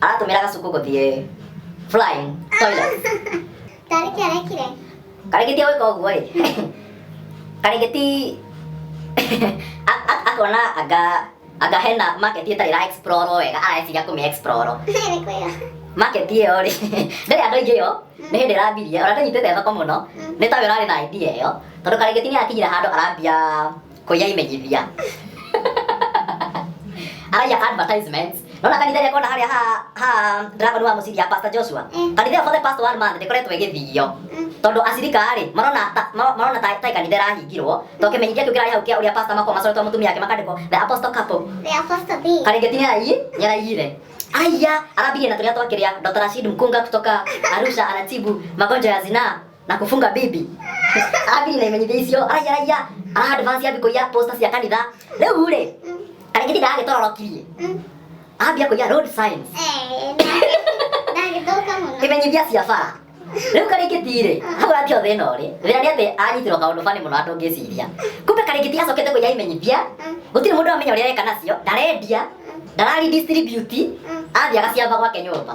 aratũmĩra gacuku gũthiĩ flying toilet Tarĩ kĩ arekire? karĩngĩ ti gwĩka ũguo ĩ karĩngĩ ti a- a- akona anga anga hena market ĩtarĩ ra explore wega areciria kũmĩ explore Nĩ kwĩra. market ĩyo rĩ ndĩrĩ andũ aingĩ yo nĩ hĩndĩ ĩrambirie ona ndĩnyitĩte thoko mũno nĩ tawe ũrarĩ na idea ĩyo tondũ karĩngĩ ti nĩ akinyire handũ arambia Koya imenyithia. Araya advertisements. Nona kanitha ĩrĩa kona harĩa ha ha Dragon wa mũciria Pastor Joshua. Mm. Kanitha ĩyo for the past one month ndĩkoretwo ĩgĩthio. Mm. Tondũ acirika rĩ marona ta- ma- marona ta ta kanitha ĩrahingirwo. To kĩmenyithia kĩu kĩrarĩ hau kĩa ũrĩa pastor makoma coretwo mũtumia yake makandĩkwo the apostle couple. The apostle B. Karengeti nĩ arai nĩ araiyire. Araiya arambirie na tũrĩa twakĩrĩa Dr. Rashid Mkunga kutoka Arusha anatibu magonjwa ya zinaa. na kufunga bibi abi na imenyithia icio aya aya a advance ya biko ya posta cia kanitha riu ri karingiti ndagitorokirie ambia kuiya road signs ndagĩthũka mũno imenyithia cia bara riu karingiti ri hau ati othe ino ri thina ni ati anyitirwo kaundu bani muno andu ngiciria kumbe karingiti acokete kuiya imenyithia gutiri mundu amenya uria areka nacio ndarendia ndarari distribute athiaga ciamba gwake nyumba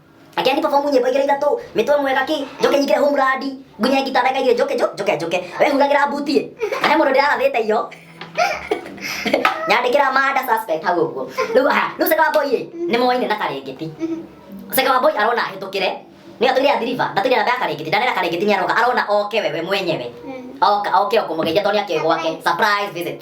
Akĩra ni perform nyĩmbo igĩrĩ ithatũ, mĩtwe mwega ki, njoke nyingĩre homeland, ngunye ngita ndagĩka igĩrĩ njoke njo- njoke njoke. Wehuragĩra mbuti ĩ, na he mũndũ ndĩrarathĩte iyo. Nyandĩkĩra manda suspect hau ũguo. Rĩu aha, rĩu Sekawa Boy ĩ, nĩ moaine na Karĩngĩti. Sekawa Boy arona ahĩtũkĩre, nĩ atũire ya Deliver, ndatũire namba ya Karĩngĩti, ndanera Karĩngĩti nĩ aroka, arona oke we we mwenyewe. Oka, oke o kũmũgeithia tondũ nĩ akĩũĩ gwake. Surprise visit.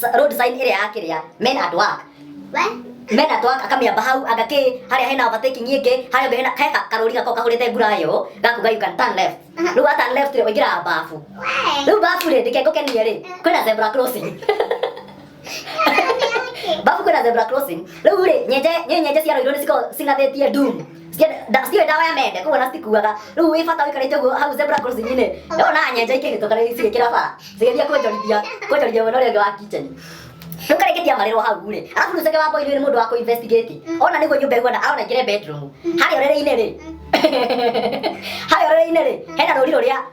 Sa- road sign ĩrĩa ya kĩrĩa men at work We? men at work akamĩamba hau agakĩ harĩa hena overtaking ĩngĩ harĩa mbere hena he ka- karũri gako kahũrĩte ngurayo gakuga you can turn left rĩu wa turn left rĩ ũingĩraga babu We? rĩu babu rĩ ndikengũkenie rĩ kwĩna zebra crossing Nani yake? babu kwĩna zebra crossing rĩu rĩ nyenje nĩ nyenje ciaroirwo nĩ ciko cing'athĩtie doom ciũĩ ndawa ya mende koguo na citikuaga rĩu wĩ bata wĩkarĩte ũguo hau zebra crossing-inĩ ndona nyenja ikĩhĩtũka rĩu cigĩkĩra bara cigeria kwonjorithia kwonjorithia mwena ũrĩa ũngĩ wa kitchen rĩu karĩkĩtia marĩrwo hau rĩ arabu rĩu cege wa boy nĩ mũndũ wa kũ-investigate ona nĩguo nyũmba ĩhuana arona ingĩre bedroom harĩa ũrĩrĩ-inĩ rĩ harĩa ũrĩrĩ-inĩ rĩ hena rũri rũrĩa